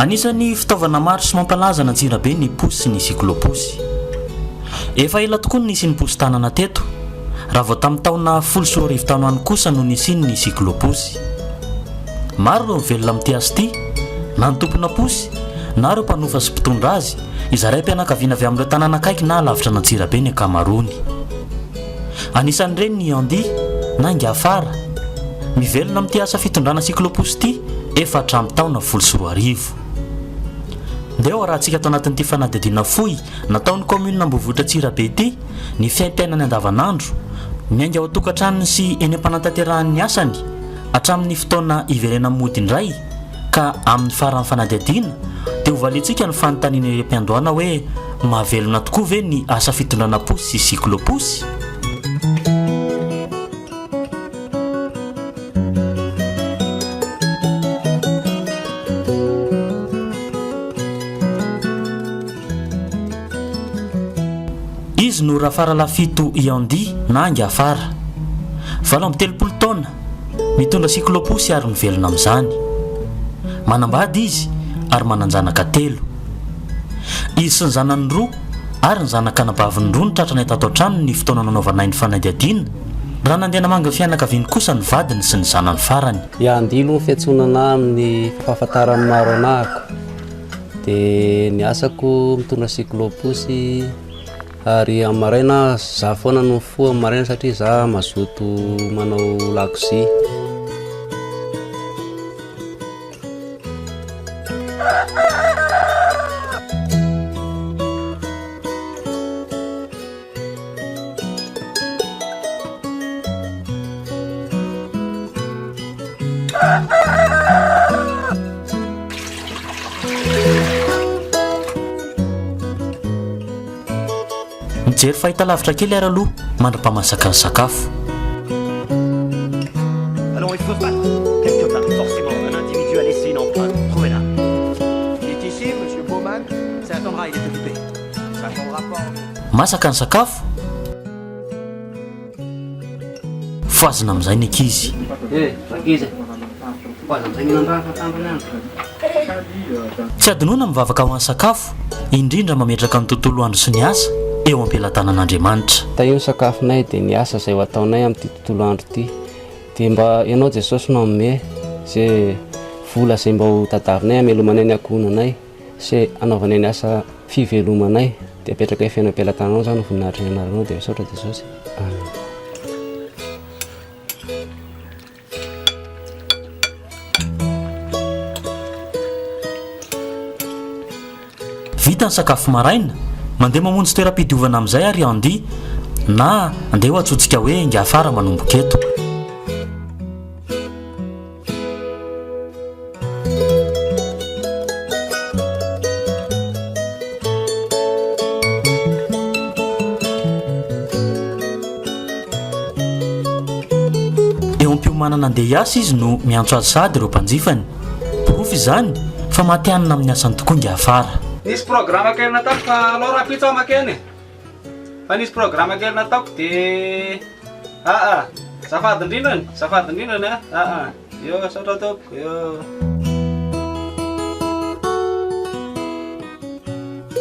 Anisan'ny fitaovana maro sy mampalaza an'Antsirabe ny posy sy ny sikiloposy. Efa ela tokoa no nisian'ny posy tanana teto, raha vao tamin'ny taona folo sy roa arivo tano any kosa no nisian'ny sikiloposy. Maro ireo mivelona amin'ity asa ity, na ny tomponà posy, na ireo mpanofa sy mpitondra azy. izay raim-pianakaviana avy amin'ireo tanàna akaiky na alavitra an'Antsirabe ny ankamaroany. Anisan'ireny ny Andy na Ingafara, mivelona amin'ity asa fitondrana cyclo-pousse ity efa hatramin'ny taona folo sy roa arivo. Ndeha ho arahantsika ato anatin'ity fanadihadiana fohy nataon'ny kaominina Ambohivohitra Antsirabe ity ny fiaimpiainany andavanandro, miainga ao an-tokantranony sy eny am-panantaterahan'ny asany hatramin'ny fotoana hiverenany mody indray. ka amin'ny faran'ny fanadihadiana dia ho valiantsika ny fanontaniana irem-piandohana hoe mahavelona tokoa ve ny asa fitondrana posy sy cyclo-posy? Izy no Rafaralafito Iandy na Ingafara. Valo amby telopolo taona. Mitondra siklôposy ary mivelona amin'izany. Manambady izy ary manan-janaka telo. Izy sy ny zanany roa ary ny zanak'anabaviny roa no tratranay tato an-tranony ny fotoana nanaovanay ny fanadihadiana, raha nandeha namangy ny fianakaviany kosa ny vadiny sy ny zanany farany. Ya, andilo ny fiantsonana amin'ny fahafantaran'ny maro anahako, dia ny asako mitondra siklôposy. Ary amin'ny maraina za foana no mifoha amin'ny maraina satria za mazoto manao lakozia. Mijery fahitalavitra kely ary aloha mandra-pahamasaka ny sakafo. Masaka ny sakafo. Fohazina amin'izay ny ankizy. Tsy hadinoina ny vavaka ho an'ny sakafo, indrindra mametraka ny tontolo andro sy ny asa eo am-pelatanan'Andriamanitra. Hita io ny sakafonay dia ny asa izay ho ataonay amin'ity tontolo andro ity. Dia mba Ianao Jesosy no hanome izay vola izay mba ho tadiavinay hamelomanay ny ankohonanay. sy anaovanay ny asa fivelomanay dia apetraka eo feno am-pelatananao zany ny voninahitry ny anaranao dia misaotra Jesosy Amen. Vita ny sakafo maraina, mandeha mamonjy toeram-pidiovana amin'izay ary Andy, na andeha ho antsointsika hoe Ingahy Fara manomboka eto. Eo am-piomanana andeha hiasa izy no miantso azy sahady ireo mpanjifany. Porofo izany fa matihanina amin'ny asany tokoa ingahy Fara. Nisy programme kely nataoko fa aleo rahampitso aho makeny e. Fa nisy programa kely nataoko de ah ah zafady indrindrany zafady indrindrany ah ah ah yo saotra tompoko yo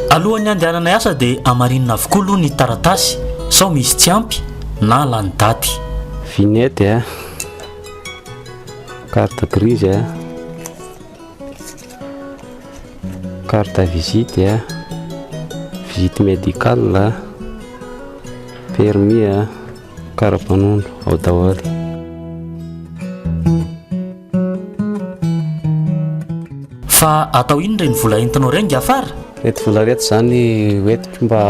Alohan'ny handehananay asa dia hamarinina avokoa aloha ny taratasy sao misy tsy ampy na lany daty. Vignette eh. Carte grise eh. Carte visite a, visite médicale a, permis a, karapanondro ao daholo. Fa atao inona ireny vola entinao ireny Gaafar? Reto vola reto zany hoentiko mba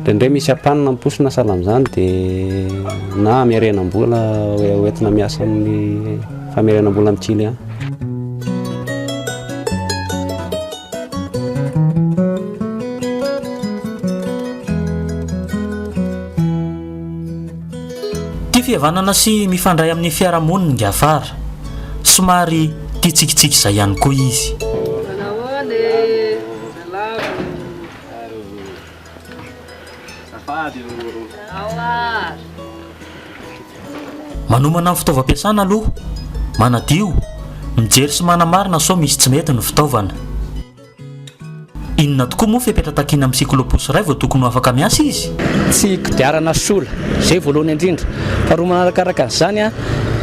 Dia ndray misy ampanina amposina sahala amin'izany dia na hamerenam-bola hoentina miasa amin'ny famerenam-bola amin'ny client. fihavanana sy mifandray amin'ny fiarahamonina ny Gafara. Somary tia tsikitsiky izay ihany koa izy. Manomana ny fitaovam-piasana aloha, manadio, mijery sy manamarina sao misy tsy mety ny fitaovana. Inona tokoa moa fepetra takiana amin'ny siklôposy iray vao tokony ho afaka miasa izy? Tsy kodiarana sola, izay voalohany indrindra. Faharoa manarakaraka an'izany,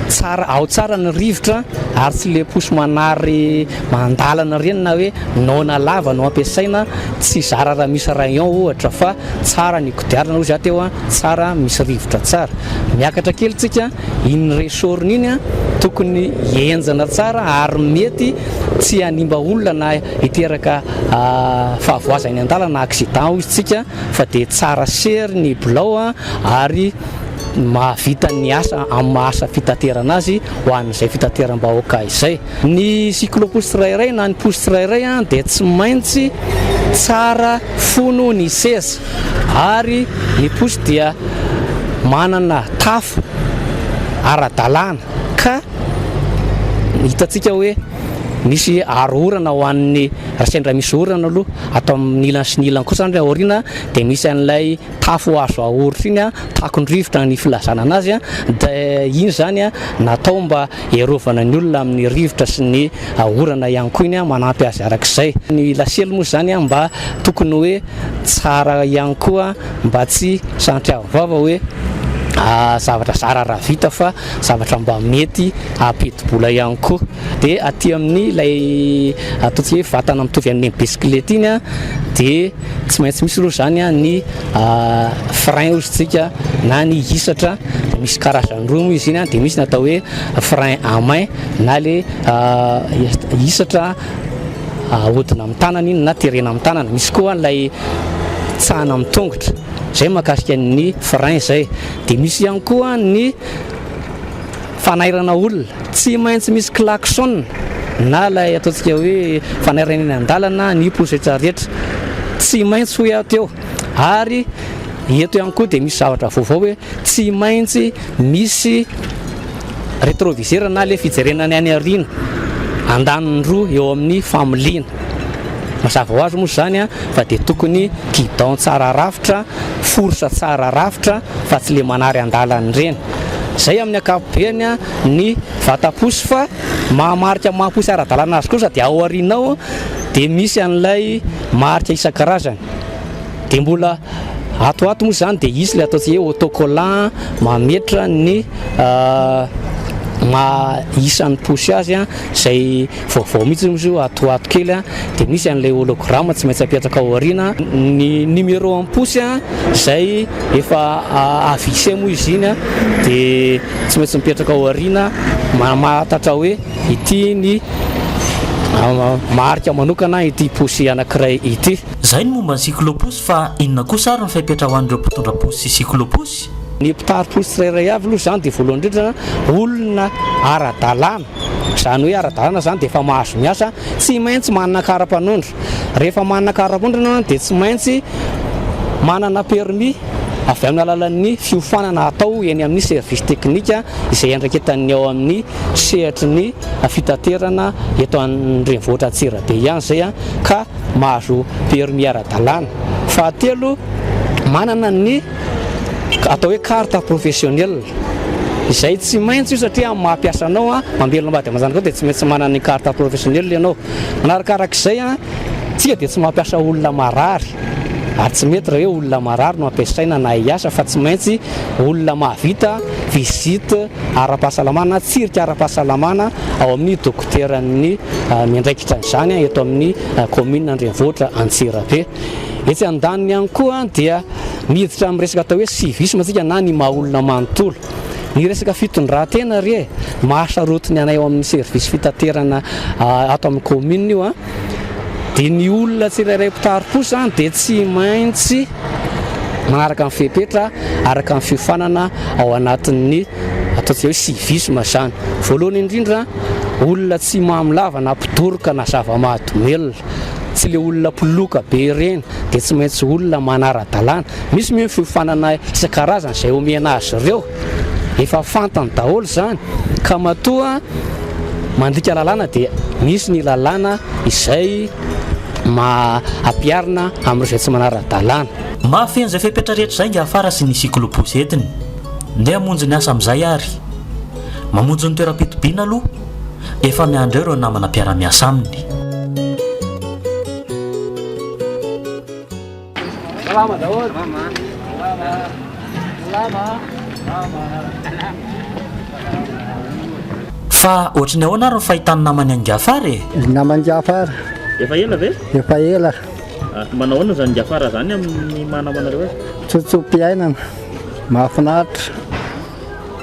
tsara, ao tsara ny rivotra ary tsy le posy manary. Mandalana ireny na hoe noana lava no ampiasaina, tsy zara raha misy rayon ohatra fa tsara ny kodiarana hoy za teo an, tsara misy rivotra tsara. Miakatra kely tsika, iny ressort-ny iny an tokony henjana tsara ary mety tsy hanimba olona na hiteraka fahavoazana eny an-dalana, accident hoy isika fa dia tsara sery ny bilao an ary mahavita ny asa amin'ny maha asa fitaterana azy ho an'izay fitateram-bahoaka izay. Ny cyclo-posy tsirairay na ny posy tsirairay dia tsy maintsy tsara fono ny seza ary ny posy dia manana tafo ara-dalàna ka hitantsika hoe misy aro orana ho an'ny, sendra misy orana aloha, ato amin'ny ilany sy ny ilany kosa ary aoriana dia misy an'ilay. tafo azo ahoritra iny, takon-drivotra ny filazana anazy, dia iny izany natao mba hiarovana ny olona amin'ny rivotra sy ny orana ihany koa iny, manampy azy araka izay. Ny lasely moa izany mba tokony hoe tsara ihany koa mba tsy santiago vava hoe zavatra zara raha vita fa zavatra mba mety hampidi-bola ihany koa. Dia aty amin'ny ilay ataontsika hoe vatana mitovy amin'ny bisikileta iny dia. Tsy maintsy misy aloha izany ny frein ozy tsika na ny hisatra dia misy karazany roa moa izy iny dia misy ny atao hoe frein à main na le hisatra ahodina amin'ny tanana iny na terena amin'ny tanana misy koa ilay tsahana amin'ny tongotra izay makasika ny frein izay dia misy ihany koa ny Fanairana olona, tsy maintsy misy klaxon na ilay ataontsika hoe fanairana eny an-dalana ny pozetra rehetra, tsy maintsy hoy aho teo ary eto ihany koa dia misy zavatra vaovao hoe tsy maintsy misy retroviseur na ilay fijerena ny any aoriana, andaniny roa eo amin'ny familiana. Mazava ho azy moa izany fa dia tokony guidon tsara rafitra, fourche tsara rafitra fa tsy ilay manary an-dalana ireny. Izay amin'ny ankapobeny ny vataposy fa mahamarika maha posy ara-dalana azy kosa dia ao aoriana ao dia misy an'ilay marika isan-karazany. Dia mbola ato ho ato moa izany dia hisy ilay ataontsika hoe autocollant mametra ny maha isan'ny posy azy izay. vaovao mihitsy hono izy io ato ho ato kely dia misy an'ilay hologramme tsy maintsy apetraka ao aoriana ny numéro am-posy izay efa avise moa izy iny dia tsy maintsy mipetraka ao aoriana mahatatra hoe ity ny marika manokana ity posy anankiray ity. Izay ny momba ny cyclo-posy fa inona kosa ary ny fepetra ho an'ireo mpitondra posy sy cyclo-posy? Ny mpitari-posy tsirairay avy aloha izany dia voalohany indrindra olona ara-dalàna. Izany hoe ara-dalana izany dia efa mahazo miasa, tsy maintsy manana kara-panondro. Rehefa manana kara-panondro ianao dia tsy maintsy manana permis avy amin'ny alalan'ny fiofanana atao eny amin'ny service teknika izay iandraiketan'ny ao amin'ny sehatry ny fitaterana eto an-drenivohitra Antsirabe ihany izay ka mahazo permis ara-dalàna. Fahatelo, manana ny. atao hoe carte professionnelle izay tsy maintsy io satria amin'ny maha mpiasa anao a mamelona ambady aman-janakao dia tsy maintsy manana ny carte professionnelle ianao manarakarak'izay a tsika dia tsy mampiasa olona marary ary tsy mety raha hoe olona marary no ampiasaina na hiasa fa tsy maintsy olona mahavita visite ara-pahasalamana tsirika ara-pahasalamana ao amin'ny dokoteran'ny ah, miandraikitra izany eto amin'ny ah, kaominina andrenivohitra Antsirabe Etsy andaniny ihany koa dia miditra amin'ny resaka atao hoe civisme isika na ny maha olona manontolo. Ny resaka fitondran-tena re eh, mahasaroty ny anay ao amin'ny service fitaterana ah, ato amin'ny commune io an. Ah. Dia ny olona tsirairay mpitary kosa dia tsy maintsy manaraka ny fepetra araka ny fiofanana ao anatin'ny ataontsika hoe civisme izany. Voalohany indrindra olona tsy mamy lava na mpidoroka na zava-mahadomelina. tsy le olona mpiloka be ireny dia tsy maintsy olona manara-dalàna. Misy moa ny fiofanana isan-karazany izay omena azy ireo, efa fantany daholo izany ka matoa mandika lalàna dia misy ny lalàna izay maha ampiharina amin'ireo izay tsy manara-dalàna. Mafy an'izay fepetra rehetra izay ny afara sy ny sikilopôsy entiny. Ndeha hamonjy ny asa amin'izay ary. Mamonjy ny toeram-pitobiana aloha. Efa miandry eo ireo namana mpiara-miasa aminy. Salama daholo. Salama. Salama. Fa ohatry ny ahoana ary ny fahitany namany an'i Gafara e? Ny namany Gafara. Efa ela ve? Efa ela. Ah, manahoana izany Gafara izany amin'ny maha namanareo azy? Tsotso-piainana. Mahafinaritra.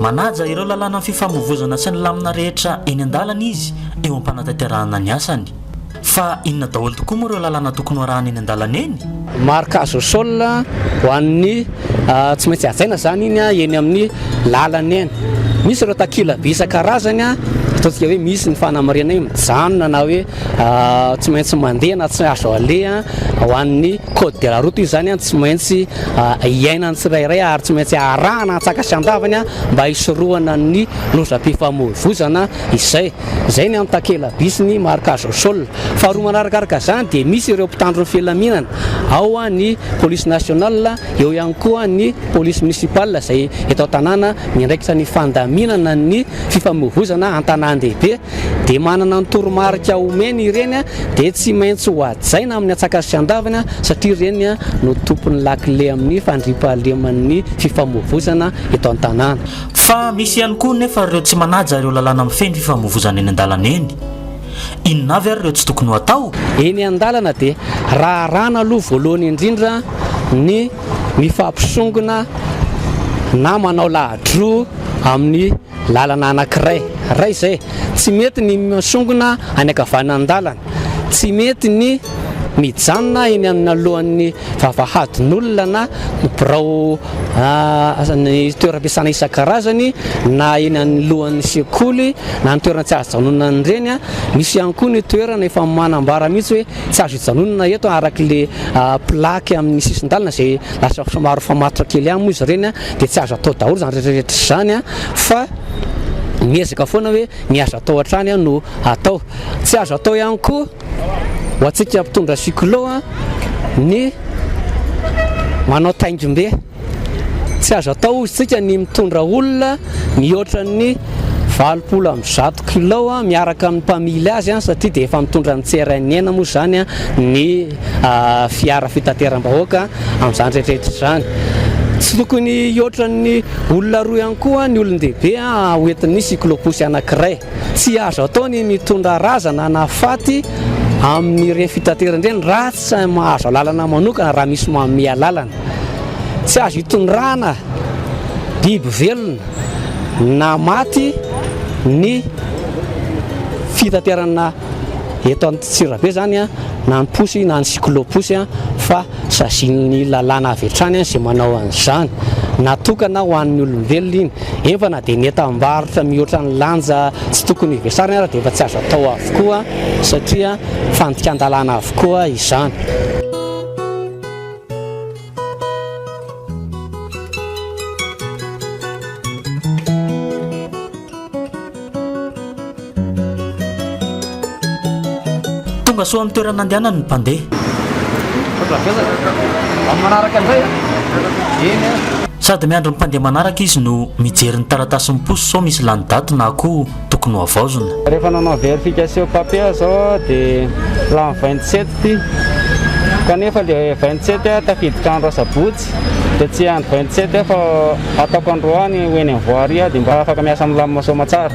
Manaja ireo lalànan'ny fifamoivoizana sy ny lamina rehetra eny an-dalana izy eo am-panatanterahana ny asany. Fa inona daholo tokoa moa ireo lalàna tokony hoarahana eny an-dalana eny? Marc Azosol, Ho an'ny tsy maintsy hajaina izany iny eny amin'ny lalana eny. Misy ireo takila-by isan-karazany ataontsika hoe misy ny fanamarinana eny mijanona na hoe tsy maintsy mandeha na tsy azo aleha ho an'ny code de la route io zany tsy maintsy iainan'ny tsirairay ary tsy maintsy arahana antsaka sy andavany mba hisorohana ny lozam-pifamoivoizana izay izay ny amin'ny takela bisy ny marka zosol faharoa manarakaraka zany dia misy ireo mpitandro ny filaminana ao ny police nationale eo ihany koa ny police municipale izay eto an-tanàna miandraikitra ny fandaminana ny fifamoivoizana an-tanàn-dehibe dia manana ny toromarika omeny ireny dia tsy maintsy ho hajaina amin'ny atsakany sy andavany satria ireny no tompon'ny lakile amin'ny fandriampahaleman'ny fifamoivozana eto an-tanàna. Fa misy ihany koa nefa ireo tsy manaja ireo lalàna mifehy ny fifamoivozana eny an-dalana eny. Inona avy ary ireo tsy tokony ho atao? Eny an-dalana dia raharahana aloha voalohany indrindra ny mifampisongona na manao lahadroa amin'ny Lalana anankiray ray izay, tsy mety ny misongona any ankavanandalana, tsy mety ny mijanona eny analohan'ny vavahadin'olona na birao ny toeram-piasana isan-karazany na eny anolohan'ny sekoly na ny toerana tsy azo ijanonan'ny reny a, misy ihany koa ny toerana efa manambara mihitsy hoe tsy azo ijanonana eto araka ilay plaque amin'ny sisin-dalana izay. Lasa somary efa matotra kely ihany moa izy ireny dia tsy azo atao daholo izany rehetrarehetra izany fa miezaka foana hoe ny azo atao hatrany no atao. Tsy azo atao ihany koa ho antsika mpitondra cyclo ny manao taingim-be. Tsy azo atao hoy isika ny mitondra olona mihoatra ny valopolo amby zato kilo miaraka amin'ny mpamily azy satria dia efa mitondra ny tsirainin'ny aina moa izany ny fiara fitateram-bahoaka amin'izany rehetrarehetra izany. Tsy tokony hihoatra ny olona roa ihany koa ny olon-dehibe hoentin'ny cyclo-pousse anankiray. Tsy azo atao ny mitondra razana na faty amin'ireny fitaterana ireny raha tsy mahazo alalana manokana, raha misy manome alalana. Tsy azo hitondrana biby velona na maty ny fitaterana eto Antsirabe zany a, na ny posy na ny cyclo-posy a, fa sazin'ny lalàna avy hatrany a izay manao an'izany. Natokana ho an'ny olombelona iny, efa na dia ny entam-barotra mihoatra ny lanja tsy tokony hivesarany ara dia efa tsy azo atao avokoa satria fandikan-dalàna avokoa izany. Tonga soa amin'ny toerana andehanany ny mpandeha. Sady miandry ny mpandeha manaraka izy no mijery ny taratasin'ny posy sao misy lany daty na koa tokony hohavaozina. Rehefa nanao verification papier aho zao dia lany vingt sept ty kanefa le vingt sept aho tafiditra andro asabotsy dia tsy andro vingt sept aho fa ataoko androany ho eny am voirie aho dia mba afaka miasa milamina soamatsara.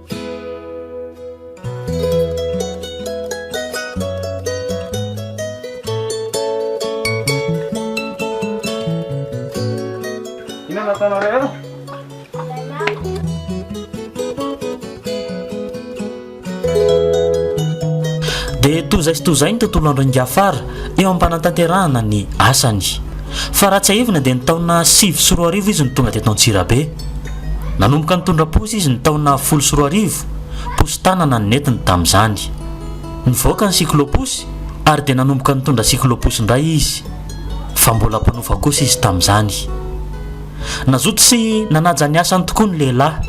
dia tozay sy tozay ny tontolo andro ingafara eo am-panantanterahana ny asany fa raha tsiahivina dia ny taona sivy sy roa arivo izy no tonga teto antsirabe Nanomboka nitondra posy izy ny taona folo sy roa arivo, posy tanana no nentiny tamin'izany. Nivoaka ny siklôposy ary dia nanomboka nitondra siklôposy indray izy, fa mbola mpanofa kosa izy tamin'izany. Nazoto sy nanaja ny asany tokoa ny lehilahy,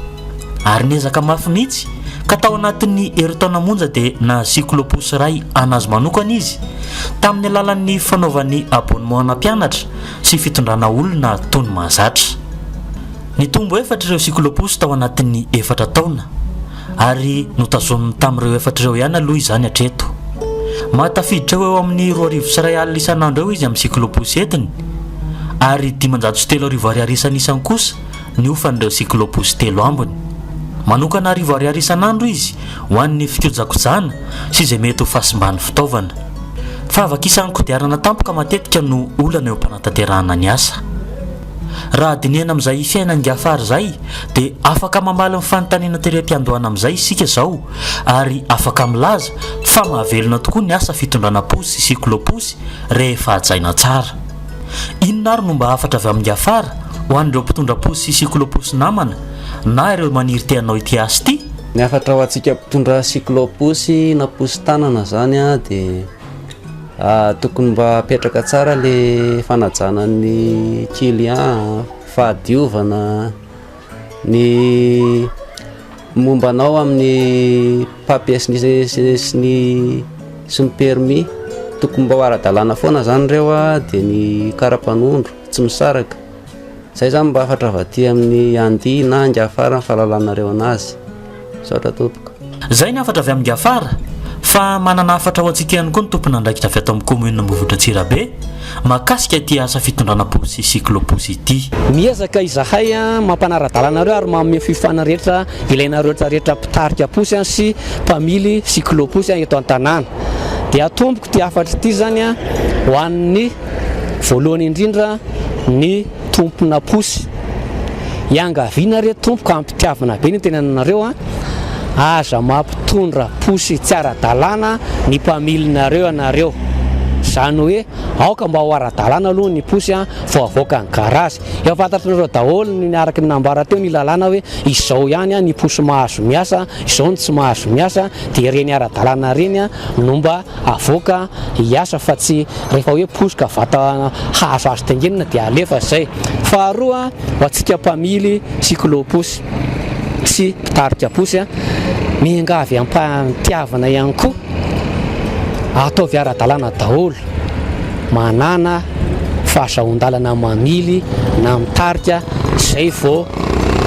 ary niezaka mafy mihitsy ka tao anatin'ny herintaona monja dia nahazo siklôposy iray an'azy manokana izy, tamin'ny alalan'ny fanaovany abonnemana mpianatra, sy fitondrana olona toa ny mahazatra. Nitombo efatra ireo siklôposy tao anatin'ny efatra taona, ary notazominy tamin'ireo efatra ireo ihany aloha izany hatreto. Mahatafiditra ho eo amin'ny roa arivo sy iray alina isan'andro eo izy amin'ny siklôposy entiny, ary dimanjato sy telo arivo ariary isan'isany kosa ny hofan'ireo cyclobus telo ambiny. Manokana arivo ariary isan'andro izy ho an'ny fikojakojana sy izay mety ho fahasimban'ny fitaovana. Fahavakisàn'ny kodiarana tampoka matetika no olana eo am-panatanterahana ny asa. Raha dinihana amin'izay fiainan'i Ghaffar izay dia afaka mamaly ny fanontaniana terem-piandohana amin'izay isika izao ary afaka milaza fa mahavelona tokoa ny asa fitondrana posy sy cyclobus rehefa hajaina tsara. Inona ary no mba hafatra avy amin'i Ghaffar ho an'ireo mpitondra posy sy cyclo-posy namana na ireo maniry te hanao ity asa ity? Ny hafatra ho antsika mpitondra cyclo-posy na posy tanana izany dia tokony mba hapetraka tsara ilay fanajana ny client, fahadiovana. Ny momba anao amin'ny papiers ny sy ny sy ny permis tokony mba ho ara-dalàna foana zany ireo dia ny karapanondro tsy misaraka zay zany mba hafatra avy aty amin'ny Andia na Ingafar ny fahalalanareo anazy. Misaotra tompoko. Izay ny hafatra avy amin'i Gafara, fa manana hafatra ho antsika ihany koa ny tompon'andraikitra avy ato amin'ny Kaominina Ambohivotra Antsirabe mahakasika ity asa fitondrana posy cyclo-posy ity. Miezaka izahay mampanara-dalana anareo ary manome fiofanana rehetra ilainareo rehetra rehetra mpitarika posy sy mpamily cyclo-posy eto an-tanàna. Dia tompoko ity hafatra ity izany ho an'ny voalohany indrindra ny. tompona posy. Iangaviana re tompoko hampitiavina be ny tenananareo a! Aza mampitondra posy tsy ara-dalàna ny mpamilinareo ianareo. Izany hoe aoka mba ho ara-dalàna aloha ny posy a! vao avoaka ny garazy. Efa fantatr'nareo daholo ny araka ny nambara teo ny lalàna hoe izao ihany a! ny posy mahazo miasa, izao ny tsy mahazo miasa, dia ireny ara-dalàna ireny no mba avoaka hiasa fa tsy rehefa hoe posoka vata hahazo azy tengenina dia alefa izay. Faharoa, ho antsika mpamily cyclo pousse sy mpitarika posy, miangavy am-pahatiavana ihany koa, ataovy ara-dalàna daholo, manàna fahazahoan-dalana mamily na mitarika izay vao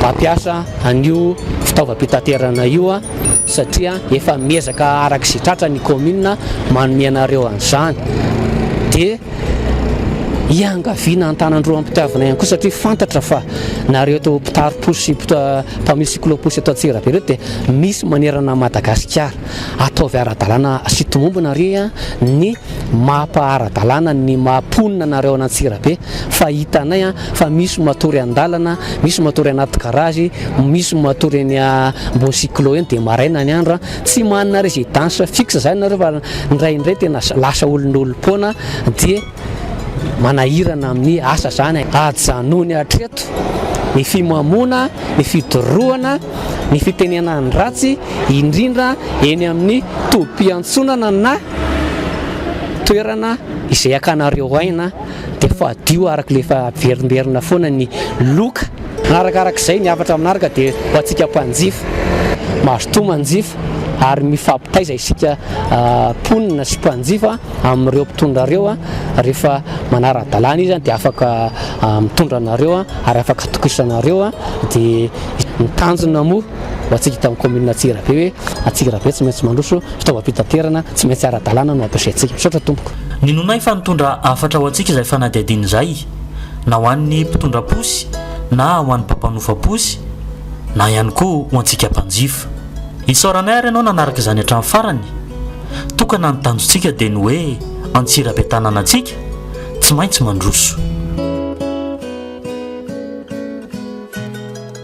mampiasa an'io fitaovam-pitaterana io. satria efa miezaka araka izay tratra ny kaominina manome anareo an'izany dia iangaviana an-tanan-droa am-pitiavana ihany koa satria fantatra fa nareo eto mpitari-posy sy mpamily sikilaoposy eto Antsirabe ireo dia misy manerana an'i Madagasikara ataovy ara-dalàna sy tomombina re ny Mapa ara-dalàna ny maha mponina anareo any Antsirabe fa hitanay fa misy matory an-dalana, misy matory anaty garage, misy matory eny ambony cyclo eny dia maraina ny andro tsy manana residence fixe zany nareo fa indraindray tena lasa olon'olom-poana dia manahirana amin'ny asa zany ajanony hatreto ny fimamoana, ny fidorohana, ny fitenenan'ny ratsy indrindra eny amin'ny tobim-piantsonana na toerana izay akanareo aina dia fadio araka ilay efa averimberina foana ny loka. Arakarak'izay, ny hafatra manaraka dia ho antsika mpanjifa. Mazotoa manjifa ary mifampitaiza isika mponina sy mpanjifa amin'ireo mpitondra ireo, rehefa manara-dalàna izy dia afaka mitondra anareo ary afaka atokisanareo dia ny tanjona moa ho antsika eto amin'ny kaominina Antsirabe hoe Antsirabe tsy maintsy mandroso, fitaovam-pitaterana tsy maintsy ara-dalàna no ampiasaintsika. Misaotra tompoko. Ninoanay fa nitondra hafatra ho antsika izay fanadihadiana izay, na ho an'ny mpitondra posy na ho an'ny mpampanofa posy na ihany koa ho antsika mpanjifa. Isaoranay ary ianao nanaraka izany hatramin'ny farany. Tokana ny tanjontsika dia ny hoe Antsirabe tanànantsika tsy maintsy mandroso.